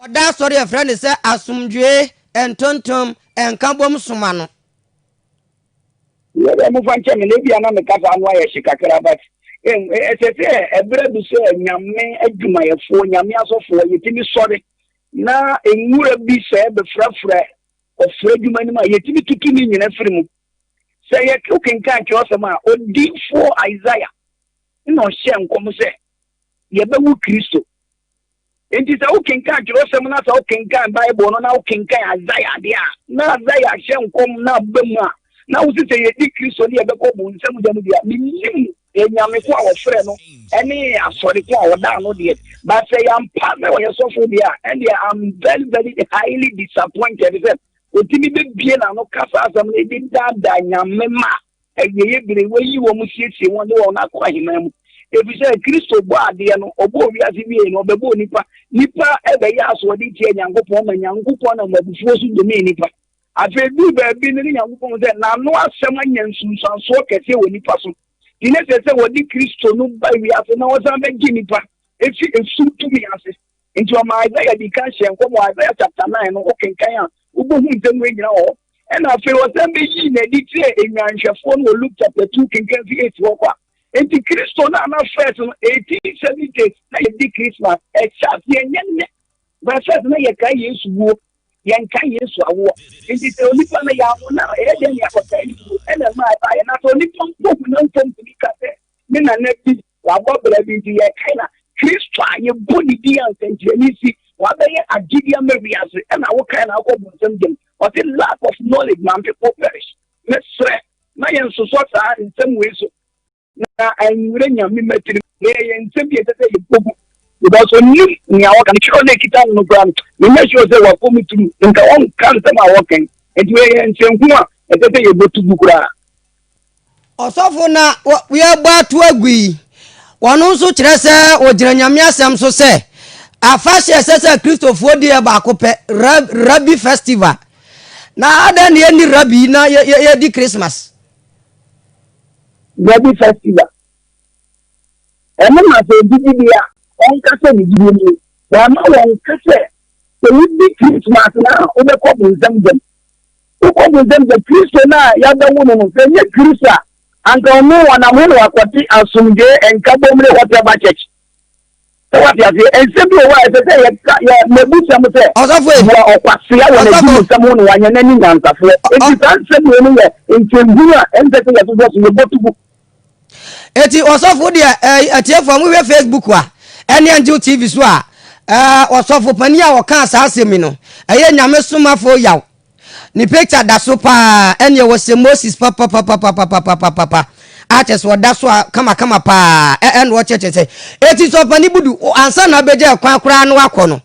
Wɔda asɔre a yɛfrɛ no sɛ asomdwoe ntontom nkabom som ano. Yɛ dɛ mofa nkyɛ me na ebia na me kasa ano ayɛ hye kakra but ɛsɛ sɛ ɛberɛ bi sɛ Nyame adwumayɛfoɔ, Nyame asɔfoɔ yɛtumi sɔre na nwura bi sɛ bɛfrafra ɔfrɛ adwuma no mu a yɛtumi tutu ne nyina firi mu. Sɛ yɛkenkan twerɛsɛm a odiyifoɔ Isaiah na ɔhyɛɛ nkɔm sɛ, Yɛbɛwo Kristo. Enti sɛ wokenkan twerɛsɛm no, sɛ wokenkan Bible no, na wokenkan Isaia deɛ a, na Isaia hyɛ nkɔm na aba mu a, na wosi sɛ yɛdi Kristo ne yɛbɛkɔ bonsam gya mu deɛ, mennim anyame ko a wɔfrɛ no ne asɔre ko a wɔdaa no deɛ, but sɛ yɛampa sɛ ɔyɛ sɔfo deɛ a, ɛndeɛ I'm very very highly disappointed sɛ ɔtumi bɛbie n'ano ka saa asɛm no de daadaa nyame ma Awieeɛ bere, wɔyi wɔn siesie wɔn de wɔn akɔ ahemman mu. Ɛfiri sɛ Kristo bɔɔ adeɛ no, ɔbɔɔ wiase wiee no, ɔbɛbɔɔ nnipa. Nnipa bɛyɛɛ asoɔden tiaa Nyankopɔn ma Nyankopɔn nam abufuo so domee nnipa. Afei ɛduruu baabi no, na Nyankopɔn hu sɛ n'ano asɛm anya nsunsuansoɔ kɛseɛ wɔ nnipa so, nti na ɛsɛ sɛ wɔde Kristo no ba wiase na ɔsan bɛgye nnipa firi esum tumi ase. Nti ɔmaa Isaiah dii kan hyɛɛ nkɔmɔ, Isaiah chapter 9 no, wokenkan a, wobɛhu nsɛm wei nyina wɔ hɔ. Ɛna afei ɔsan bɛyii no adi kyerɛɛ nnwanhwɛfoɔ no wɔ Luke chapter 2, kenkan fi 8 hɔ kɔ a. Nti Kristo no a na first no, 1870s na yɛdi Christmas, ɛhyɛ aseɛ nyɛ nnɛ. By first na yɛkae Yesu wuo, yɛnkae Yesu awoɔ. Nti sɛ onipa no yɛanwo no a, ɛyɛ dɛn ne yɛakɔkae ne wuo? Ɛna ɛmaa ɛbaeɛ. Na sɛ onipa mpo hu no a, ɔmfa ntumi nka sɛ, Me nana bi Wabɔ bra bi nti yɛkae na Kristo a yɛbɔ ne din a nsɛnkyerɛnne si na wabɛyɛ agyede ama wiase ɛna wokae na wokɔ bonsam gyam ɔse lack of knowledge man people perish mesrɛ ma yɛn nsosɔ saa nsɛm wei so na anwura Nyame mma tirim na yɛyɛ nsɛm bi a ɛsɛ sɛ yɛbɔ gu because ɔnim nea wɔka no twerɛ no ɛkita no no koraa no menyɛ sure sɛ wakɔ mu turu nka ɔnka nsɛm a wɔka yi nti wei yɛ nsɛnhunu a ɛsɛ sɛ yɛbɔ to gu koraa. Ɔsɔfo na wɔabɔ ato agu yi, wɔn nso kyerɛ sɛ wɔgyina Nyame asɛm so sɛ afahyɛ a ɛsɛ sɛ Kristofoɔ di yɛ baako pɛ, Rabbi Festival. Na adɛn na yɛnni Rabbi na yɛdi Christmas? Rabbi Festival. Ɛno ma sɛ obi di bi a, ɔnka sɛ ne gyidie mu no, wɔama wɔnka sɛ sɛ wodi Christmas no a wobɛkɔ bonsam gyam. Wokɔ bu nsɛm sɛ Kristo no a yɛabɛwo no no, sɛ ɛnyɛ Kristo a, anka ɔno ɔnam he na wakɔte Asomdwoe Nkabom ne Whatever Church? Sɛ woate aseɛ, nsɛm bi wɔ hɔ a ɛsɛ sɛ yɛka, yɛ, mabusa mo sɛ, Ɔsɔfo e! Bua ɔkwasea wɔ Ɔsɔfo! n'adwumusɛm ho na wanyɛ n'ani nyansafoɔ. Ɔ, ɔ. Enti saa nsɛm wei no yɛ nkyenhunu a ɛnsɛ sɛ yɛsosɔ so, yɛbɔ to gu. Eti ɔsɔfo deɛ ɛɛ atiefo a mohwɛ Facebook a ɛne Angel TV so a ɛɛ ɔsɔfo panin a ɔkaa saa asɛm yi no ɛyɛ nyame somafo yaw ne picture da so paa ɛneɛ wɔsɛ Moses papapapapapapapapa akyɛ sɛ ɔda so a kamakama paa ɛɛ na ɔkyɛkyɛ sɛ eti sɛ ɔpanin budu ansa na abɛgya ɛkwan koraa no akɔ no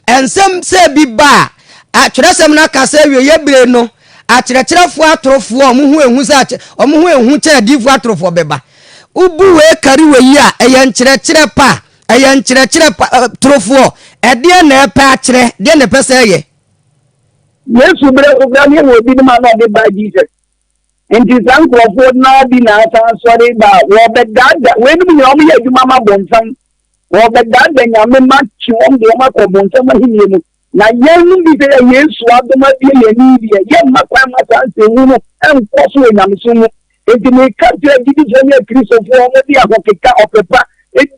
ɛnsɛm sɛ bi ba a atwerɛsɛm no aka sɛ awieɛ bere no Akyerɛkyerɛfoɔ atorofoɔ a wɔn ho yɛ hu sɛ akyɛ, wɔn ho yɛ hu kyɛn adiyifoɔ atorofoɔ bɛba. Wobu wei kari wei a, ɛyɛ nkyerɛkyerɛ pa, ɛyɛ nkyerɛkyerɛ pa, ɛ, torofoɔ. Ɛdeɛ na ɛpɛ akyerɛ, deɛ na ɛpɛ sɛ ɛyɛ. Yesu berɛ so koraa no yɛwɔ ebinom a na ɔde baa Jesus nti saa nkurɔfoɔ no ara bi na asan sɔre ba a wɔbɛdaadaa, weinom nyinaa wɔyɛ adwuma ma bonsam, wɔbɛdaadaa nyame ma kyi wɔn de wɔn akɔ bonsam ahennie mu. Na yɛnnom bi sɛ yɛ Yesu adom abue yɛn ani deɛ, yɛmma kwan mma saa nsɛnhunu no nkɔ so wɔ nyamesom mu. Enti meka kyerɛ agyidifoɔ ne Akristofoɔ a wɔde ahokeka ɔpɛpa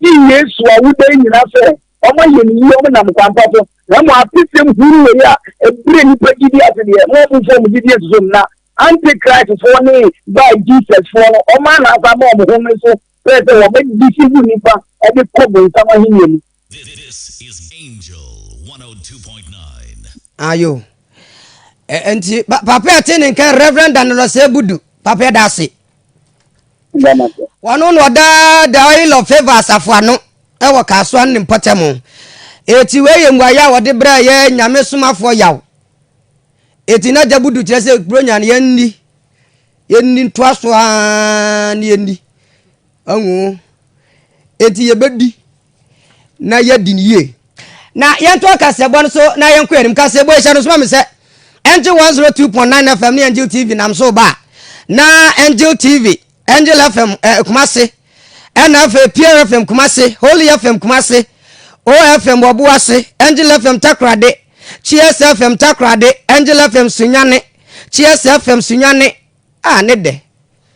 di Yesu awoda yi nyinaa sɛ wɔayɛ no yie, wɔnam kwan pa so, na mmom atesɛm hunu wei a ɛbrɛ nnipa gyidie ase deɛ, ma wɔmfa wɔn gyidie nsusu no, na Antichristfoɔ ne Bar Jesusfoɔ no, wɔn anaasa ama wɔn home so pɛɛ sɛ wɔbɛdeceive nnipa de kɔ bonsam ahennie mu. This is Angel 102.9. Ayo. Ɛ- Nti pa- papa a ɛte ne nka Reverend Danilus Ebudu. Papa yɛda ase. Wɔno na ɔda the oil of favor asafo ano ɛwɔ Kasoa ne mpɔtam. Eti wei yɛ mmuaeɛ a wɔde brɛ yɛ nyame somafoɔ yaw. Eti na gya budu kyerɛ sɛ Buronya no yɛnni. Yɛnni ntoa so aa ne yɛnni. Ɔho. Enti yɛbɛdi na yɛadi no yie. Na yɛntoa kaseɛbɔ no so na yɛnkɔ anim. Kaseɛbɔ yi hyɛ no soma me sɛ Angel 102.9 FM ne Angel TV nam so ba a, na Angel TV, Angel FM eh, Kumase, ɛna afei Pure FM Kumase, Holy FM Kumase, OFM Wɔboase, Angel FM Takorade, Cheers FM Takorade, Angel FM Sunyane, Cheers FM Sunyane, Ah ne dɛ.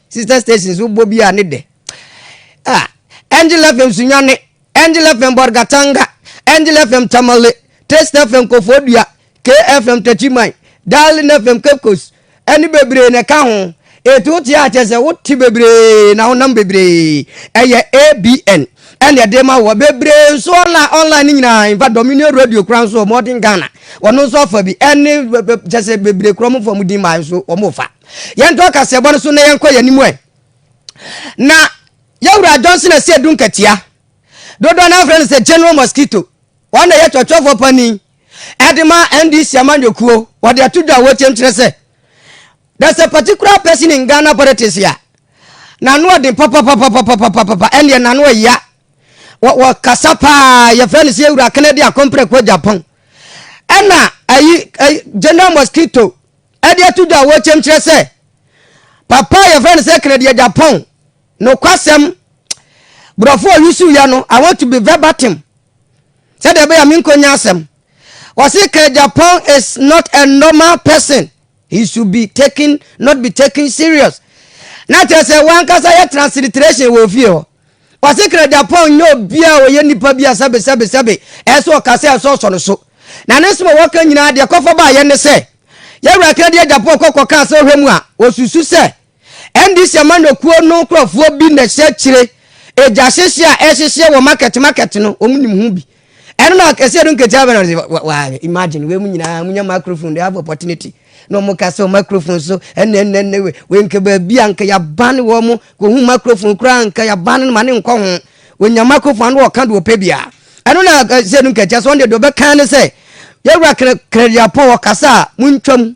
Sister stations wo bɔ bi a ne dɛ. Ah Angel FM Sunyani, Angel FM Borgatanga, Angel FM Tamale, Taste FM Kofodua, KFM Tachiman, Darling FM Cape Coast, ɛne bebree na ɛka ho. Etu te a kyerɛ sɛ wote bebree na wonam bebree. Ɛyɛ ABN. ɛndeɛ de ma wɔ bebree nso online online ne nyinaa in fact dominion radio kura nso wɔn ɔden ghana wɔn nso afa bi ɛne kyɛ sɛ bebree kura wɔn fɔ wɔn din maa nso wɔn fa yɛn tɔ kaseɛbɔ no so na yɛn kɔ yɛn anim ɛ na yɛwura johnson ɛsɛ edu nkatia dodoɔ na afrɛ no sɛ general mosquito wɔn na yɛ tɔtɔfo panin ɛde ma ndc amanyɔkuo wɔde ato dwa a wɔkyɛm kyerɛ sɛ There's a particular person in Ghana politics a n'ano ɔden papapapapapapapa ɛnneɛ n'ano ɛya wɔ wɔ kasa paa yɛfrɛ no sɛ ewura Kennedy Akompreko Japan ɛna ayi ayi General Mosquito ɛde ato dwa a wɔkyɛm kyerɛ sɛ papa a yɛfrɛ no sɛ Kennedy Japan nokwasɛm borɔfo a ɔyusu yɛ no I want to be verbatim sɛdeɛ ɛbɛyɛ a menkɔnya asɛm wɔse Kennedy Japan is not a normal person He should be taken, not be taken serious. Na kyerɛ sɛ wankasa yɛ transliteration wɔ ofie hɔ. Ɔse Krejapong nyɛ obi a ɔyɛ nipa bi a sɛbe sɛbe sɛbe ɛsɛ ɔka sɛ ɛsɛ ɔsɔ no so. Na ne nsɛm a wɔka nyinaa deɛ ɛkɔfa baayɛ ne sɛ Yɛwura Krejapong kɔ kɔkaa sɛ ɔhwɛ mu a ɔsusu sɛ NDC amanyɔkuo no nkorɔfoɔ bi na ɛhyɛ akyire, egya hyehye a ɛhyehyeɛ wɔ market market no wɔn nim ho bi. Ɛno na akɛseɛ no nketewa bɛ na ɔde wa wa imagine wei mu nyinaa munya microphone they have opportunity na wɔn ka sɛ microphone so ɛnna ɛnna ɛnna wei wei nka baabi a nka yaba ne wɔn kɔhu microphone koraa nka yaba ne ma ne nkɔ ho wɔnya microphone ano wɔka deɛ ɔpɛ bia ɛno na akɛseɛ no nketewa so wɔn deɛ deɛ ɔbɛka ne sɛ yɛwura kra kradiapɔn wɔkasa a muntwam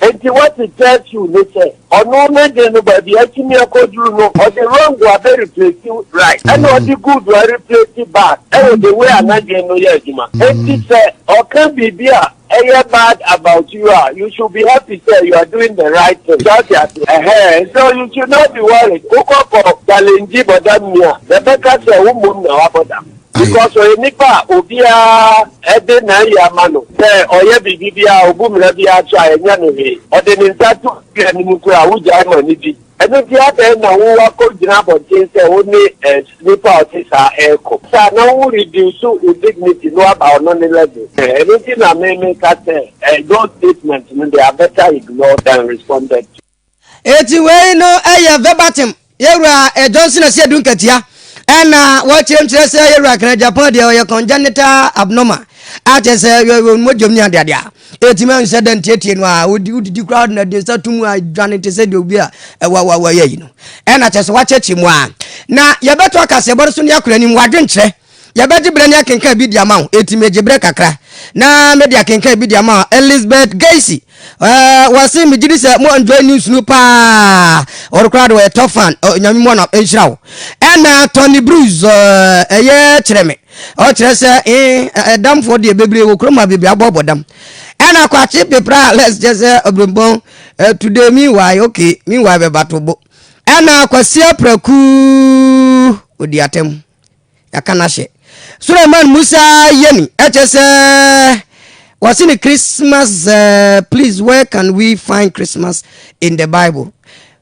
Enti wɔse Churchill ne sɛ ɔno ne de no baabi a atumi akɔduru no ɔde wrong a bɛreplesi right ɛna ɔde good a replesi bad ɛwɔ the way a n'adwene no yɛ adwuma. Enti sɛ ɔka biribi a ɛyɛ bad about you a you should be happy sɛ you are doing the right thing. So ate aseɛ? Ɛhɛɛ so you should not be worried. Wokɔ kɔ challenge bɔdamni a na ɛbɛka sɛ wo mmom na wabɔ dam. Because ɔyɛ nipa a obiara de n'ayi ama no sɛ ɔyɛ biribi biara a obu mmara biara so a ɛnyɛ no hwee. Ɔde ne nsa to obi anim koraa a wogyae ma no di. Ɛno nti adɛn na wo akɔgyina abɔnten sɛ wo ne nipa a ɔte saa ɛrekɔ? Saa na wo reduce wo dignity no aba ɔno ne level. Ɛno nti na me meka sɛ those statements no they are better ignored than responded to. Eti wei no yɛ verbatim Yɛwura Johnson Asiedu nkatia ɛna wɔkyerɛmkyerɛ sɛ Yɛwura Kenneth Agyapong deɛ ɔyɛ congenital abnormal akyɛ sɛ wɔn mogyam ne adeade a ɛtumi ahu sɛ dɛn tietie no a wodi wodidi koraa wode nade nsa to mu a dwane te sɛ deɛ obi a ɛwa wa wa yɛ yi no ɛna kyɛ sɛ wakyɛkyɛ mu a na yɛbɛto akaseɛbɔ no so ne akora anim wadwenkyerɛ Yɛbɛgye berɛ ne akenkan bi de ama wo, enti megye berɛ kakra na mede akenkan bi de ama wo. Elizabeth Gacy, uh, wɔse megye di sɛ mo enjoy news no paa, ɔno koraa de wɔyɛ top fan, uh, nyame mu anam nhyira wo. Ɛna Tony Bruce, uh, ɛyɛ kyerɛ me, ɔkyerɛ sɛ eh, ɛdamfoɔ deɛ bebree wɔ kurom a bebree abɔbɔ dam. Ɛna kwakye pepra, let's just sɛ ɔbrɛmbɔn, uh, today meanwhile, okay, meanwhile bɛba to bo. Ɛna kwasia praku, odi atɛm. Yɛaka no ahyɛ. Suleiman Musa Yeni, ɛkyɛ sɛ wɔse ne Christmas uh, please where can we find Christmas in the Bible?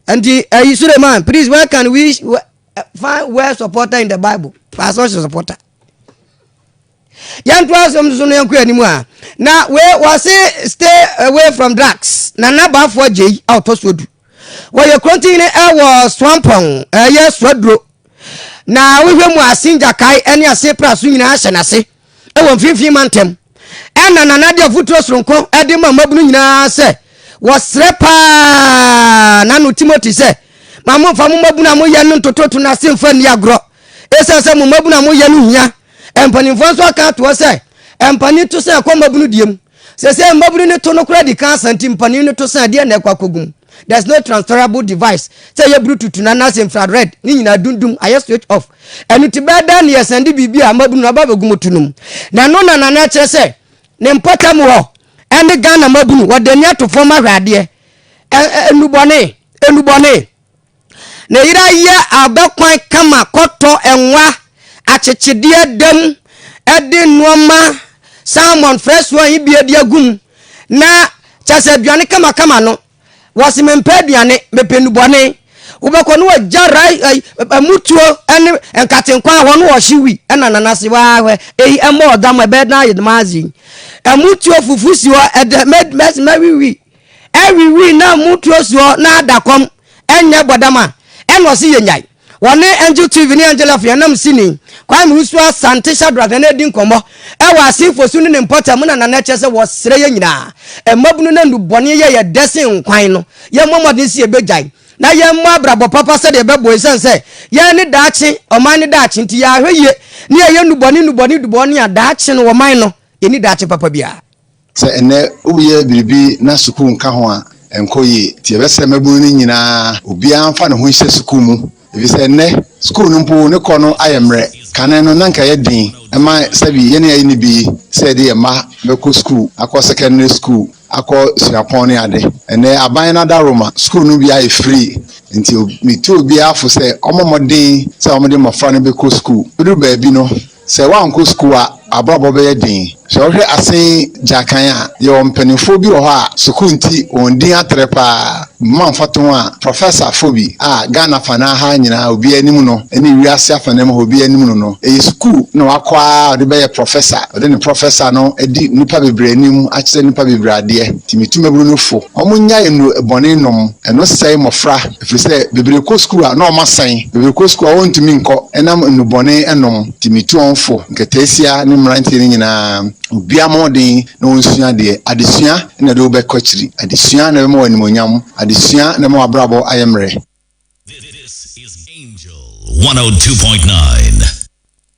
Nti ɛyi Suleiman please where can we find where supporter in the Bible? Pastor supporter. Yɛntoa asɛm no so na yɛnkɔ anim a, na wei wɔse stay away from drugs. Nana Boafo Agyei a ɔtɔ so du. Wɔyɛ kurontini wɔ Soampɔn, ɛyɛ Soaduro. Na wohwɛ mu ase ngyakae ne ase praso nyinaa hyɛ n'ase wɔ mfimfini mantam. Ɛna Nana de afuturo soronko de ma mmabunu nyinaa sɛ wɔsrɛ paa n'ano Timothy sɛ ma momfa mo mmabunu a moyɛ no ntototo n'ase mfa nni agorɔ. Esiane sɛ mo mmabunu a moyɛ no hia Mpanimfoɔ nso aka ato hɔ sɛ mpanin to sã kɔ mmabunu deɛ mu. Seesei mmabunu no to no koraa di kan asa nti mpanin no to sã ɛdeɛn na ɛkɔ akɔgu mu? There's no transferable device sɛ ɛyɛ buru tutu no anaasɛ infra red ne nyinaa dum dum ayɛ switch off. Ɛno nti bɛyɛ dɛn na yɛsan de biribi a mmabunu no aba abɛgu mu to no mu? Na ɛno na Nana kyerɛ sɛ ne mpɔtam hɔ ɛne Ghana mmabunu wɔde ani ato fam ahwɛ adeɛ. Ɛ ɛ nnubɔne, nnubɔne. Ne yera yɛ abɛkwan kama kɔtɔ nwa akyekyedeɛ da mu de nnoɔma salmon frɛsoɔ a ɛyɛ bie de agu mu na kyɛ sɛ aduane kamakama no wɔse mempɛ aduane mepɛ nnubɔne wobɛkɔ no wɔgya rai mutuo ne nkatenkwa a hɔ no wɔhye wi ɛna nanase waahwɛ eyi ɛmɔ ɔdam ɛbɛyɛ dan ayɛ damaase ɛmutuo fufu si hɔ ɛdɛ mɛwiwi Ewiwii na mu turo soɔ na ada kɔm nyɛ bɔdam a, ɛna ɔse yɛnyae. Wɔne Angel TV ne Angel Afia nam sini Kwame Usuo Asante Shadrack Nana redi nkɔmmɔ wɔ Asenfo so ne ne mpɔtam mu na Nana kyerɛ sɛ wɔsrɛ yɛn nyinaa mmabunu na nnubɔne yɛ yɛ dɛ sen nkwan no, yɛmmɔ mmɔden sɛ yɛbɛgyae na yɛmmɔ abrabɔ papa sɛdeɛ ɛbɛboa ɛsiane sɛ yɛn ne daakye ɔman no daakye nti yɛahwɛ yie ne yɛyɛ nnubɔne nnubɔne dubɔne a daakye no ɔman no yɛnni daakye papa biara. Sɛ ɛnnɛ woreyɛ biribi na sukuu nka ho a, ɛnkɔ yie. Enti yɛbɛsrɛ mmabunu no nyinaa, obiara mfa ne ho nhyɛ sukuu mu, efisɛ ɛnnɛ sukuu no mpo ne kɔ no ayɛ mmerɛ. Kane no, na anka ɛyɛ den ma sɛbi yɛne yɛayɛ no bi sɛ yɛde yɛn mma bɛkɔ sukuu, akɔ sɛkɛndere sukuu, akɔ suapɔn ne ade. Ɛnnɛ aban no adaworoma, sukuu no bi ayɛ firii, enti metu obiara fo sɛ ɔmmɔ mmɔden sɛ wɔde mmɔfra no bɛkɔ sukuu. Ɛbɛduru baabi no, Sɛ woankɔ sukuu a, w'abrabɔ bɛyɛ den. Sɛ wohwɛ asen gya kan a, yɛwɔ mpanimfoɔ bi wɔ hɔ a sukuu nti wɔn din atrɛ pa ara. Mma mfatoho a Professor-foɔ bi a Ghana afanaa ha nyinaa obiara nim no ne wiase afanaa mu ha obiara nim no no. Ɛyɛ sukuu na wakɔ ara a ɔde bɛyɛ Professor. Ɔde ne Professor no adi nnipa bebree anim akyerɛ nnipa bebree adeɛ. Nti metu mmabunu no fo, wɔnnyae nnuro bɔne nom. Ɛno sɛe mmɔfra. Ɛfiri sɛ bebree kɔ sukuu a, na wɔasan. Bebree kɔ sukuu a wɔntumi nkɔ ɛnam nnubɔne nom nti. Metu ɔwofo, nkataasia ne mmeranteɛ no nyinaa, obiara mmɔ mmɔden na ɔnsua adeɛ. Adesua na ɛde wo bɛkɔ akyiri. Adesua na ɛbɛma wo animuonyam. Adesua na ɛbɛma w'abrabɔ ayɛ mmerɛ. This is Angel 102.9.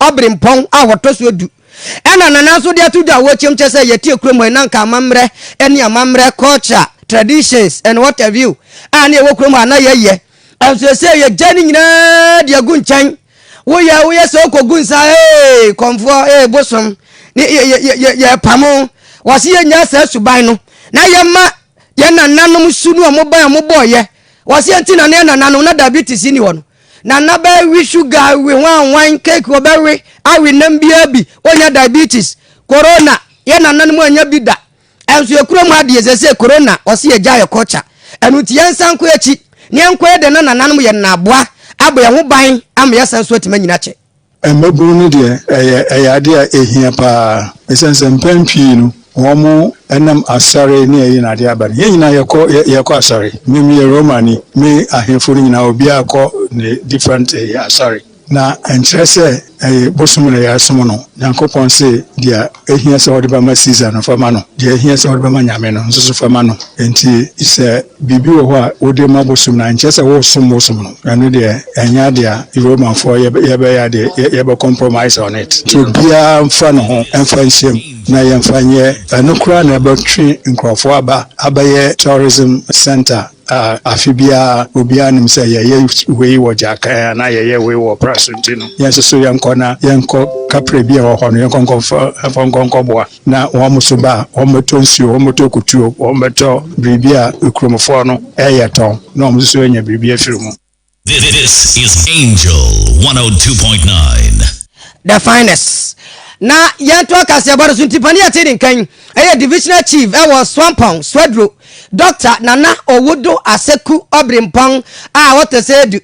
Ɔberempɔn a wɔtɔ so du na Nana nso de ato dwa a wɔrekyem kyerɛ sɛ yɛteɛ kurom hɔ yi na nka amammerɛ ne amammerɛ, culture, traditions and what have you, a na yɛwɔ kurom hɔ a na yɛyɛ. Nso seesei yɛgyae ne nyinaa de agu nkyɛn. Woyɛ a woyɛ sɛ wokɔgu nsa a, ee, kɔmfoɔ, ee, bosom, ne yɛ, yɛ, yɛ, yɛrepamo. Wɔse yɛnnyaa saa suban no na yɛmma yɛn nananom su ne wɔn bae a wɔbɔeɛ. Wɔse ɛnti na na yɛn nananom na diabetes nni hɔ no. Nana bɛwe sugar we hwanhwan cake wɔbɛwe awe nam biara bi onya diabetes corona yɛ nananom anya bi da ɛnso yɛ kura mu adeɛ sɛ sɛ corona ɔse yɛ gya yɛ culture ɛno nti yɛn nsa nkɔ akyi ne yɛn nkɔ yɛ dɛ na nananom yɛ nana aboa abɔ yɛn ho ban ama yɛ san so atumi anyina kyɛ. Mmabunu no deɛ, ɛyɛ ɛyɛ adeɛ a ɛhia pa ara ɛsiane sɛ mpɛn pii no wɔnam asare ne ayi no adeɛ aba no. Yɛn nyinaa yɛkɔ yɛkɔ asare. Me meyɛ Romani, me ahemfo no nyinaa obiara kɔ ne different asare. Na ɛnkyerɛ sɛ ɛyɛ bosom na yɛresom no. Nyankopɔn se deɛ ɛhia sɛ wode bɛma Caesar no fa ma no, deɛ ɛhia sɛ wode bɛma Nyame no nso so fa ma no. Enti sɛ biribi wɔ hɔ a wode ma bosom no a, nkyerɛ sɛ woresom bosom no. Ɛno deɛ, ɛnyɛ adeɛ a Romanfoɔ yɛbɛyɛ adeɛ, yɛbɛ compromise on it. Nti obiara mfa ne ho mfa nhyɛ mu na yɛmfa nyɛ. Ɛno koraa na ɛbɛtwe nkurɔfoɔ aba abɛyɛ tourism centre a afe biara obiara nim sɛ yɛyɛ wei wɔ Gyaakan anaa yɛyɛ wei wɔ Ɔpra Asonti no, yɛn nso so yɛnkɔ na yɛnkɔ kaprɛ bi a ɛwɔ hɔ no yɛnkɔ nkɔfa nkɔnkɔboa. Na wɔn nso ba a, wɔbɛtɔ nsuo, wɔbɛtɔ akutuo, wɔbɛtɔ biribi a kuromfoɔ no reyɛ tɔn, na wɔn nso anya biribi afiri mu. This is Angel 102.9. The finest. Na yɛnto akaseɛbɔ no so nti panin a ɛte ne nkan yɛ Divisional Chief wɔ Swampɔn, Swaduro, Doctor Nana Owudo Aseku Obrimpong a ɔtɔ sɛ du.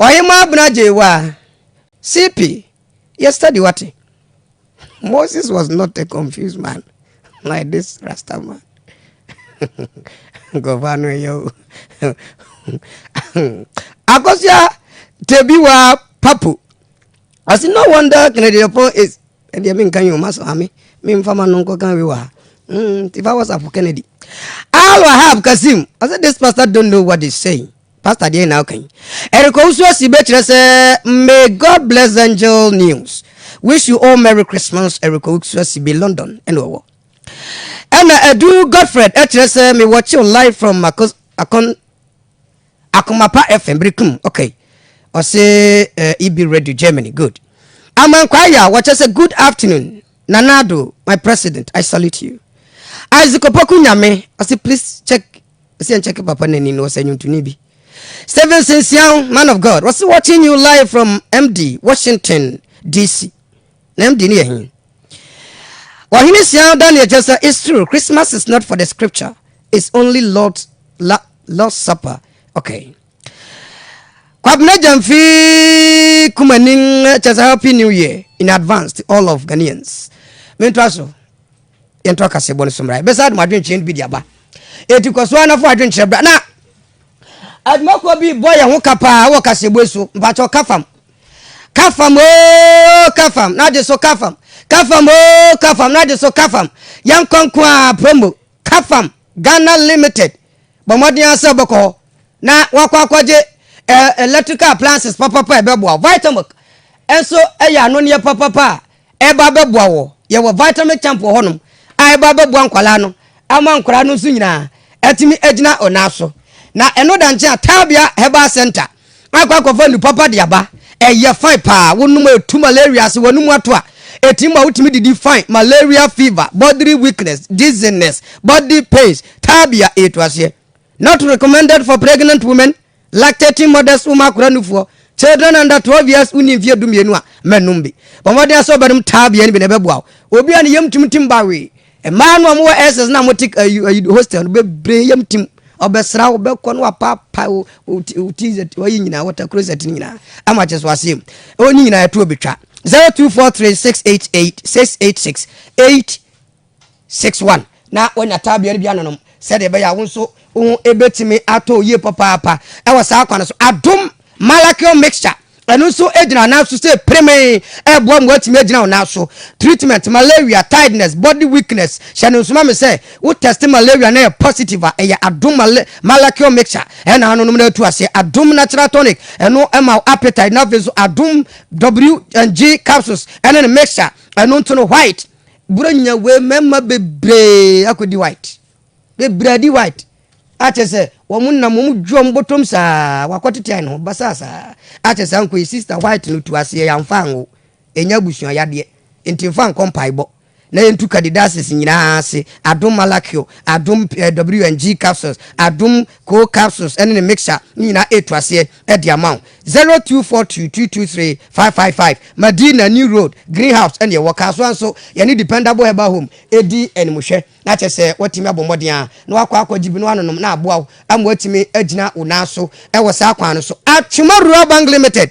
Ɔhemmaa Abner gyee wa. CP, yɛ study wate. Moses was not a confused man like this rasta man. Nkurɔfoɔ ano yɛ o. Akosua Tebiwa Papu. Ɔsi no wonder Kennedy Apo is ɛdeɛ menka yi ɔma so ame memfa ma no nkɔka wi wɔ ha nti fa whatsapp Kennedy Al Wahab Kasim ɔsɛ this pastor don't know what they saying Pastor deɛn na woka yi. Eric Owusu Asi bɛkyerɛ sɛ May God bless angel news wish you all merry Christmas Eric Owusu Asi be London ɛna ɔwɔ ɛna Edu Godfred ɛkyerɛ sɛ me wɔkyew live from Mako Akon Akomapa FM birikum okay ɔse uh, EB Radio Germany good Amankwaya wɔkyɛ sɛ good afternoon Nanado my president I salute you Isaac Opoku Nyame ɔse please check Ɔsɛ nkyɛke papa no ani no ɔsɛ nwuntoni bi. Stevenson Siaw, man of God, ɔse watching you live from MD, Washington DC. Na MD no yɛ he? Ɔhene Siaw Daniel Joseph, it's true, Christmas is not for the scripture, it's only Lord's, la, Lord's supper. Okay. Kwabena Jamfi Kumanin, just a happy new year in advance to all of Ghanaians. Mentoa so. yɛnto akasɛbɔ no so mmra. Ɛbɛsa adom adwenkyerɛ no bi de aba. Enti kɔ so ara na fa adwenkyerɛ bra. Na adwumakuo bi bɔ yɛn ho ka paa wɔ kasɛbɔ so. Mpakyɛ ka fam. Ka fam ooo ka fam na de so ka fam. Ka fam ooo ka fam na de so ka fam. Yɛn nkonko a promo ka fam Ghana limited. Bɔ mmɔden ara sɛ wobɛkɔ hɔ na wakɔ akɔgye eh, electrical appliances papapa a ɛbɛboa. Vitamilk nso yɛ anoneɛ papapa a Ɛreba abɛboa wɔ. Yɛwɔ vitamin camp wɔ hɔnom a ɛreba abɛboa nkwadaa no ama nkwadaa no nso nyinaa atumi agyina wɔn nan so. Na ɛno da nkyɛn a, Tabea Herbal Center akɔ akɔfa nnuru papa de aba. Ɛyɛ fine paa. Wonom a ɛtu malaria ase, w'anom ato a, ɛtumi ma wotumi didi fine. Malaria fever, bodily weakness, dizziness, body pains, Tabea, ɛtu aseɛ. Not recommended for pregnant women. Lactating mothers wom akora nufoɔ, children under 12 years wonni mfeɛ dumienu a, mma nnum bi. Bɔ mmɔden ara sɛ wobɛnom taa bia no bi na ɛbɛboa wo. Obi a ne yam tim tim ba wee. Mmaa no a wɔwɔ SS no a wɔte ayi hostel no bebree yam tim. Ɔbɛsra wo, bɛkɔ no wapaapae wo, wo ti, wo ti zɛt, wayi nyinaa, water closet no nyinaa, ama kyɛ so aseɛ mu. Ɛwɔ ne nyinaa ɛtoɔ betwa. 0243 688 686 8 Six one, Na wanya tabea no bi anonom sɛdeɛ ɛbɛyɛ a wo nso wo ho bɛtumi atɔ wo yie papaapa wɔ saa kwan no so. Adom Malachion Mixture, ɛno nso gyina nan so sɛ piremee, ɛreboa ma woatumi agyina wo nan so. Treatment, Malaria, Tiredness, Body Weakness, Hyɛ no nso ma me sɛ wo test malaria na ɛyɛ positive a, ɛyɛ Adom Mal Malachion Mixture na anonom na atu aseɛ. Adom Natural Tonic, ɛno ma wo appetite na afei nso Adom WG Capsules ɛne ne Mixture, ɛno nso no white Bura nya wei mmarima bebree akɔdi white bebree adi white akyɛ sɛ wɔn nam wɔn dwi wɔn bɔtɔm saa wakɔtete ayɛ ne ho basaa saa akyɛ saa nkɔ yi sista white no tu aseɛ yɛamfa anwo ɛnyɛ abusua yadeɛ nti mfa nkɔ mpaebɔ na yɛntu kadidases nyinaa ase adom malakio adom eh, wng capsules adom coal capsules ɛne ne mixture ne nyinaa ɛtu aseɛ de ama wo. 0242223555 Madina New Road, Green House ɛne ɛwɔ. Kasoa nso yɛne Dependable Herbal Home ɛdi animhwɛ. Na kyerɛ sɛ woatumi abɔ mmɔden a na wakɔ akɔgye bi na wanonom na aboa wo ama woatumi agyina wo nan so ɛwɔ saa kwan no so. Atwema Rural Bank Limited,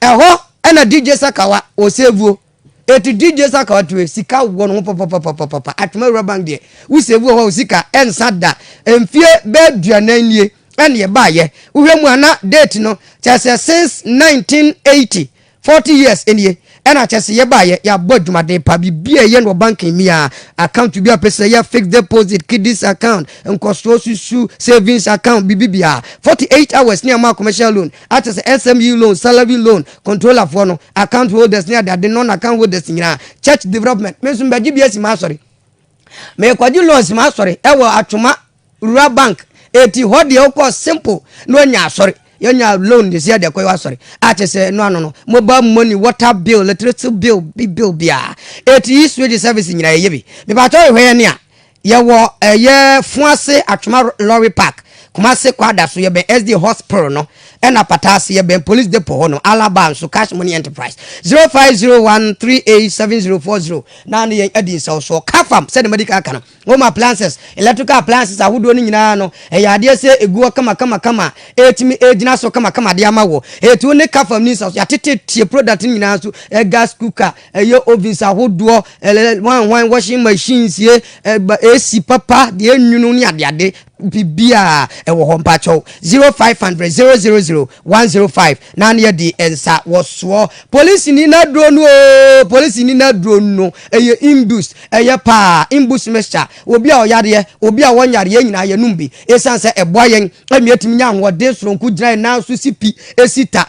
ɛhɔ ɛna DJ Sakawa ɔsɛvuo. Eti DJ Saka ɔtoe, sika wɔ ne ho papapapapapa, Atwema Rural Bank deɛ, wo save wɔ hɔ a wo sika ɛnsa da, mfie bɛyɛ aduanan nie ɛna yɛbaeɛ, wohwɛ mu a na date no kyerɛ sɛ since 1980, forty years nie ɛna kyerɛ sɛ yɛbaeɛ, yɛabɔ adwumaden pa, biribi a ɛyɛ no wɔ bank mu biara, account bi a wopɛ sɛ yɛ, fixed deposit, kiddies account, nkɔsoɔ susu, savings account, biribi biara, forty eight hours ne ama commercial loan. a kyerɛ sɛ SME loan, salary loan, controller foɔ no, account holders ne adeade non account holders nyinaa, church development, me nso mebɛgye bi asi m'asɔre. Mekɔgye loan asi m'asɔre ɛwɔ Atwoma Rural Bank, eti hɔ deɛ wokɔ simple na wanya asɔre. Yɛnya loan de si adeɛ kɔ yɛ asɔre. A kyerɛ sɛ ɛno ano no, mobile money, water bill, electricity bill, bi bill biara. Eti yi switch service nyinaa yɛyɛ bi. Mepatɔ yɛhwɛ yɛ ne a, Yɛwɔ ɛyɛ Fuase Atwema Lorry Park, Kumase Kwada so, yɛbɛn SD Hos Pr no, ɛna Pata ase, yɛbɛn Police Depot hɔ nom, Alaba nso, Cash Money Enterprise, 0501387040 na ne yɛn adi nsɛwsoɔ. Kafam, sɛdeɛ madi kan aka no, Home Appliances, Electrical Appliances ahodoɔ no nyinaa no, ɛyɛ adeɛ sɛ ɛgu hɔ kamakamakama a ɛtumi ɛgyina so kamakama de ama wo. Ɛtu ne Kafam ni nsɛwsoɔ, yɛatete tie product no nyinaa nso, Gas Cooker, Ɛyɛ ovens ahodoɔ, hwan hwan washing machines, AC papa, deɛ nwunu ne adeade biribiara ɛwɔ hɔ mpakyɛw zero five hundred zero zero zero one zero five na ne yɛde nsa wɔsoɔ polisi ni na duro no oo polisi ni na duro no ɛyɛ imbus ɛyɛ paa imbus mixture obi a ɔyareɛ obi a wɔnyareɛ nyinaa yɛnum bi ɛsan sɛ ɛboa yɛn ɛmi ɛtumi nya ahoɔden soronko gyina yɛn nan so si pi ɛsi ta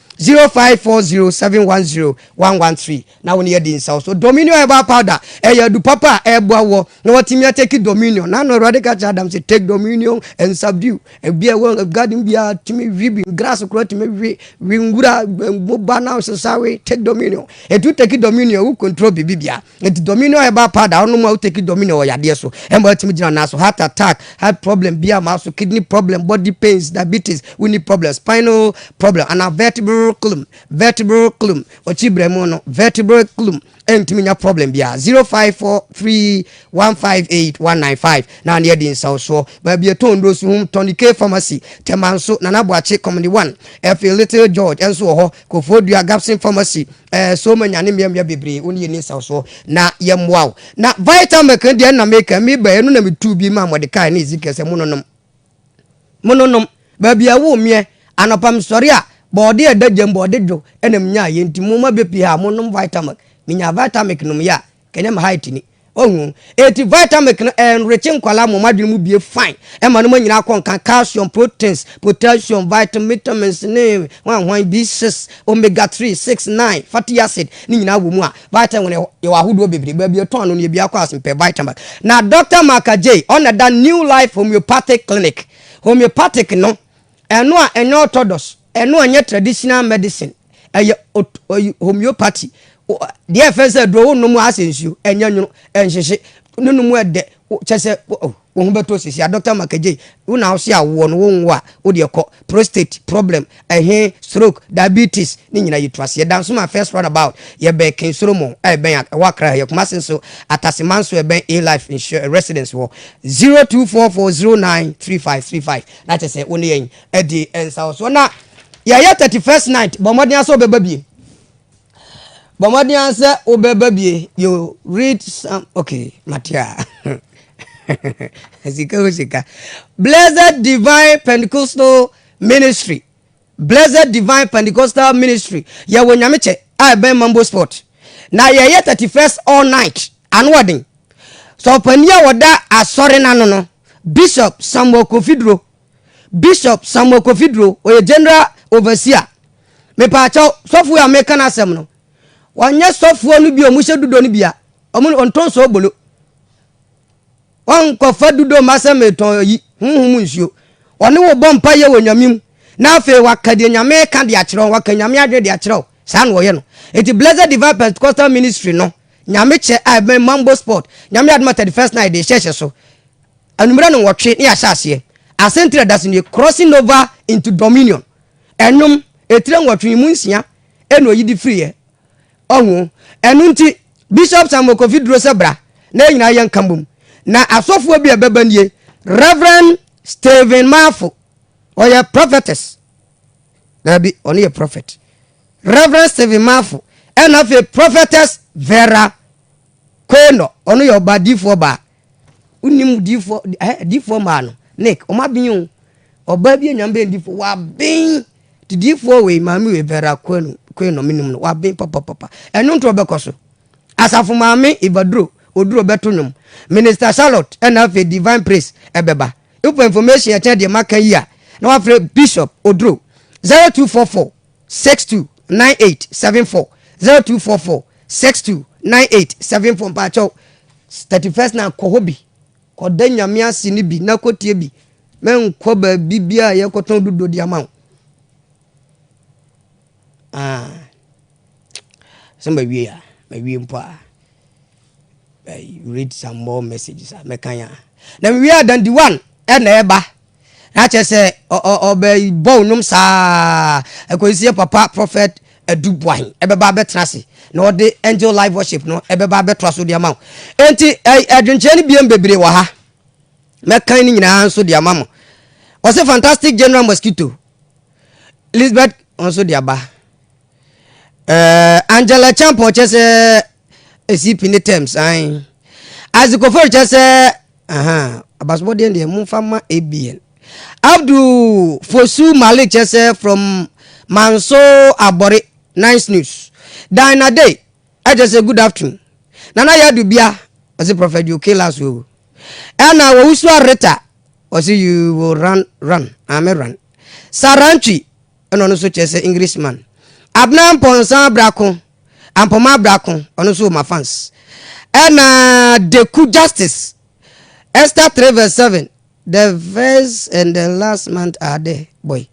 Zero five four zero seven one zero one one three na wo ne yɛdi nsaw so dominion herbal powder ɛyɛ adu papa a ɛboa wɔ na watumi ateki dominion na no awurade ka kyerɛ adam sɛ take dominion and subdue ebi a ɛwɔ garden bi a tumi wi bi grass kora tumi wi wi nwura mmoba na sesawe take dominion etu take dominion wo control biribi bia Enti domino herbal powder a wonom a wo take domino wɔ yadeɛ so ɛma watumi gyina nan so, heart attack, heart problem biara ma so, kidney problem, body pains, diabetes, wonni problem, spinal problem anaa vertebral clum, vertebral clum, ɔkyi brɛmu no, vertebral clum, ɛntumi nya problem biara. 0543158195 na ne adi nsawsoɔ. Baabi ɛtɔn nnuro so hom tɔn K pharmacy, Tɛmanso, Nana Boakye, Kɔmene 1, ɛfei Little George ɛnso wɔ hɔ, Kofoɔ Dua, Gapson pharmacy, Ɛɛ so ma nyane mmeammea bebree wo ne yɛnni nsawsoɔ na yɛmmoa wo. Na Vitamilk no deɛ na meka, meba ɛno na metuu bi maa Mordecai ne Ezekiel sɛ mononom. Mononom. Baabi a ɛwoo meɛ, anɔpa mesɔre a, bɔɔde a ɛda gya mu, bɔɔde dwo, ɛna menyaeɛ nti momma bɛpie ha, monom Vitamilk. Menyaa Vitamilk nomyɛ a, Kenya ma height ni. Wahu? Enti Vitamilk no enriche nkwadaa mom adwene mu bie fine. Ɛma noma nyinaa kɔ nkan, calcium, proteins, potassium, vitam, vitamins ne hwan hwan, B6, omega 3, 6, 9, fatty acid ne nyinaa wɔ mu a. Vitamilk no yɛwɔ ahodoɔ bebree, baabi yɛtɔn ano no yɛ biaa kɔ ase mpɛ Vitamilk. Na Doctor Marka Jay, ɔna ɛda New Life Homeopathic Clinic, homeopathic no, ɛno a ɛnyɛ orthodox, Ɛno ɛnyɛ traditional medicine, ɛyɛ ot ɔyi homeopathy. O ɛ deɛ ɛfɛ sɛ aduro wo nom a asɛ nsuo, ɛnyɛ nwono, ɛnhyehye, ne nom ɛdɛ, wo kyɛ sɛ wo oh wo ho bɛtɔ sisi a Doctor Makadjei, wo na wo se awoɔ no wo nwo a, wo deɛ kɔ, prostate problem, ɛhe, stroke, diabetes, ne nyina yɛ tu aseɛ. Dansoman first run about, yɛ bɛn King Solomon a ɛbɛn a ɛwɔ Accra ha, yɛ Kumasi nso, Atase man so ɛbɛn A Life Insur residence hɔ, 0244 09 35 35, na kyɛ sɛ wo ne yɛn. Ɛde nsawosoɔ na yɛyɛ thirty first night bɔ mmɔden ara sɛ wobɛba bie bɔ mmɔden ara sɛ wobɛba bie you read some okay matea sika o sika blessed divine pentecostal ministry blessed divine pentecostal ministry yɛwɔ nyame kyɛ a ɛbɛn mambo sport na yɛyɛ thirty first all night ano ɔden sɛ ɔpanin a wɔda asɔre no ano no bishop samuel kofiduro Bishop Samuel Kofi Duro, ɔyɛ General Overseer. Mepaakyɛw, sɔfoɔ yi a meka n'asɛm no, ɔnyɛ sɔfoɔ no bi a wɔhyɛ dudo no bia. Wɔn ɔntɔn soobolo. Wɔnkɔfa dudo mma sɛ metɔn ayi, honhom nsuo. Ɔne wo bɔ mpaeɛ wɔ Nyame mu, na afei waka deɛ Nyame ka de akyerɛ wo, waka Nyame adwene de akyerɛ wo. Saa na ɔyɛ no. Eti Blessed Divine Pentecostal Ministry no, Nyame kyɛ a ɛbɛn Mambo Sport, Nyame adom a 31st night de hyɛhyɛ so. Anwummerɛ no nwɔtwe na yɛahyɛ aseɛ. Asɛntire a ɛda so nie, Crossing Over into Dominion. Ɛnwom, etire nwɔtwe yi mu nsia na ɔyi de firiiɛ. Ɔho. Ɛno nti, Bishop Samuel Kofi duro sɛ bra na yɛn nyinaa yɛnka mmom. Na asɔfoɔ bi a ɛbɛba nie, Rev. Stephen Marfo, ɔyɛ prophetess, daabi, ɔno yɛ prophet, Rev. Stephen Marfo, ɛna afei Prophetess Vera Quaynor, ɔno yɛ ɔba, diifoɔ baa, Wonim difoɔ ɛhɛ difoɔ maa no Nick wɔn aben o ɔbaa bi enyame bɛn difoɔ waben ti difoɔ wei maame wei Vera Kwenu Kwenu menim no waben papapapa ɛno nti ɔbɛkɔ so asafo maame Ibaduro oduro bɛto nwom Minister Charlotte ɛna afei Divine Praise ɛbɛba wopɛ information ɛkyɛn deɛ maka yi a na wafrɛ Bishop oduro zero two four four Six two nine eight seven four zero two four four six two nine eight seven four mpakyɛw thirty first na kɔ hɔ bi kɔda nyame ase no bi na kɔtie bi mɛnkɔ baabi bi a yɛkɔtɔn dodo de ama wo ah. sɛ mawie a mawie mpo a read some more messages a mɛkan a na mewie a dandi one ɛna ɛba Na kyerɛ sɛ ɔbɛbɔ wo nom saa ara kɔsi sɛ yɛn papa Prophet Adu Boahen bɛba abɛtena ase na ɔde Angel Live Worship no bɛba abɛtoa so de ama wo. Enti adwenkyerɛ no biem bebree wɔ ha. Mɛkan ne nyinaa nso de ama mo. Wɔse Fantastic General Mosquito, Lisbeth nso de aba. Eh, Angela Champon kyɛ sɛ ɛsi pini tɛm san. Isaac Ofori kyɛ sɛ aha abasobɔdeɛ deɛ momfa ma ABN. Abdul Fosu Malik kyɛ sɛ from Manso Abɔre Nice News. Dina Day ɛkyɛ sɛ good afternoon. Nana Yadu Bia ɔse Prophet Joe Kilas o. Ɛna Owusua Rita ɔse you will run run ame run. Sarantwi na ɔno nso kyerɛ sɛ Englishman. Abena Mpɔnsa Brako, Ampoma Brako, ɔno nso wɔ m'afans. Ɛna Deku Justice, Esther three verse seven, the first and the last month are there boy.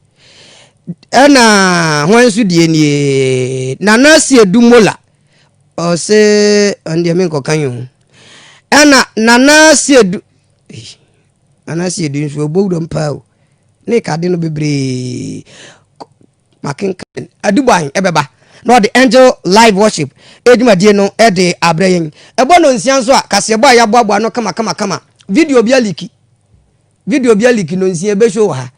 Ɛna hwan nso deɛ nie, Nana Siedu Mola, ɔse ɔno deɛ menkɔka yi ho. Ɛna Nana Siedu, Anaasɛ yɛde nsuo bɔ wuram paa o, na ɛka ade no bebree. Makenkan. Aduboan bɛba na ɔde Angel Live Worship dwumadie no de abrɛ yɛn. Ɛbɔ nnɔnsia nso a, kaseɛbɔ a yɛaboaboa ano kamakamakama. Video bi aliki. Video bi aliki nnɔnsia ɛbɛhyo wɔ ha.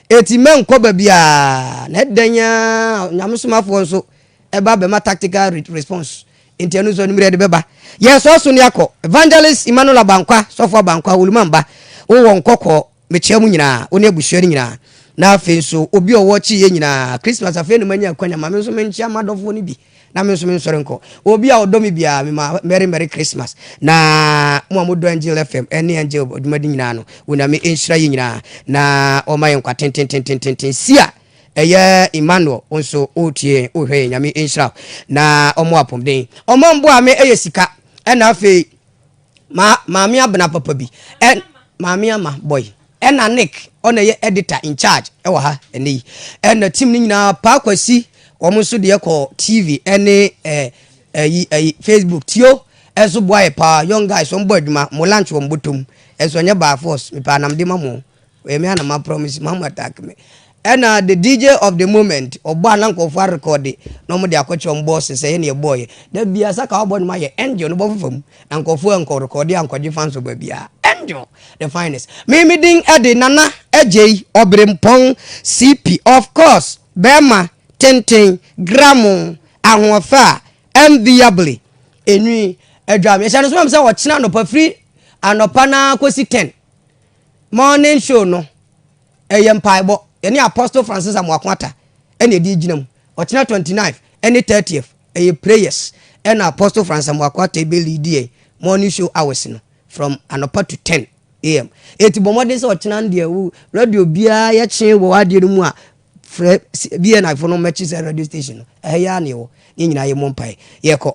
Eti mɛnkɔ baabiara. Na ɛdɛn ara, Onyame somafoɔ nso ɛba bɛma tactical response. Enti ɛno nso anwummerɛ de bɛba. Yɛn sɔɔ so ne akɔ. Evangelist Emmanuel Abankwa, Sɔfo Abankwa, Oluman ba, wo wɔ Nkɔkɔɔ, mekyea mo nyinaa, wo ne abusua no nyinaa. Na afei nso obi a ɔwɔ Kyiiɛ nyinaa, Christmas afei na manya akwanya, ma me nso menkyea m'adɔfoɔ no bi na me nso mensɔre nkɔ. Obi a ɔdɔ me biara, mema Merry Merry Christmas. Na mo a modɔ Angel FM ne Angel adwumadi nyinaa no, Onyame nhyira yɛn nyinaa na ɔmma yɛn nkwa tentententententen. Sia! Ɛyɛ Emmanuel wo nso wotie yɛn wohwɛ yɛn nyame nhyira wo na ɔmo apɔmuden ɔmo mboa me ɛyɛ sika ɛna afei ma maame abena papa bi ɛ maame ama boy ɛna Nick ɔna ɛyɛ editor in charge ɛwɔ ha ɛnɛ yi ɛna team no nyinaa paa kwasi ɔmo nso deɛ kɔ TV ɛne ɛ ɛyi ɛyi Facebook tio ɛnso boa yɛ paa young guys ɔmo bɔ adwuma mo lunch wɔ mo bɔtɔ mu ɛnso ɛnyɛ by force mepɛ anamde ma mo. Ɔyɛ me a na ma promise ma mo attack me. Ɛna the DJ of the moment ɔbɔ a na nkurɔfoɔ arekɔɔde na wɔde akɔkyerɛ wɔn boss sɛ yɛne ɛbɔɔyɛ. Da biara sɛ ka wabɔ nnwom ayɛ Angel no bɔfo fam na nkurɔfoɔ ankɔ rekɔɔde ankɔgye fans wɔ baabiara. Angel the finest. Me me din de Nana Adjei Obirempong CP of course barima tenten gramo ahoɔfɛ a enviably. Enwi adwam. Yɛhyɛ no nso ma me sɛ ɔkyena anɔpa firi anɔpa no ara kɔsi ten. Morning show no, ɛyɛ mpaebɔ. Yɛne Apostle Francis Amoako Atta ɛna ɛde gyina mu. Ɔkyena 29 ɛne 30th ɛyɛ prayers ɛna Apostle Francis Amoako Atta ɛbɛ lead yɛn morning show hours no from anɔpa to 10 am. Eti bɔ mmɔden sɛ ɔkyena no deɛ wo radio biara yɛkye wɔ adeɛ no mu a frɛ BNI fo no mɛkye sɛ radio station no ɛha yi ara na yɛwɔ. Yɛn nyinaa yɛ mmɔ mpae. Yɛkɔ.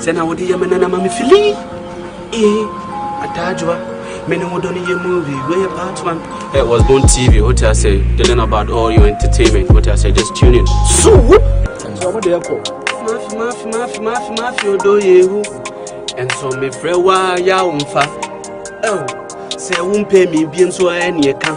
Sɛ na wode yɛ me nana ma me fili ee adaajoa me ne wo dɔ no yɛ movie wei yɛ part one eh, was born tv wote asɛ they learn about all your entertainment wote asɛ just tune in so ɛnso ɔmo deɛ kɔ mafi mafi mafi mafi mafi odo yehu ɛnso mefrɛ wo a yɛ a womfa ɛw sɛ wompɛ me biem so ɛneɛ ka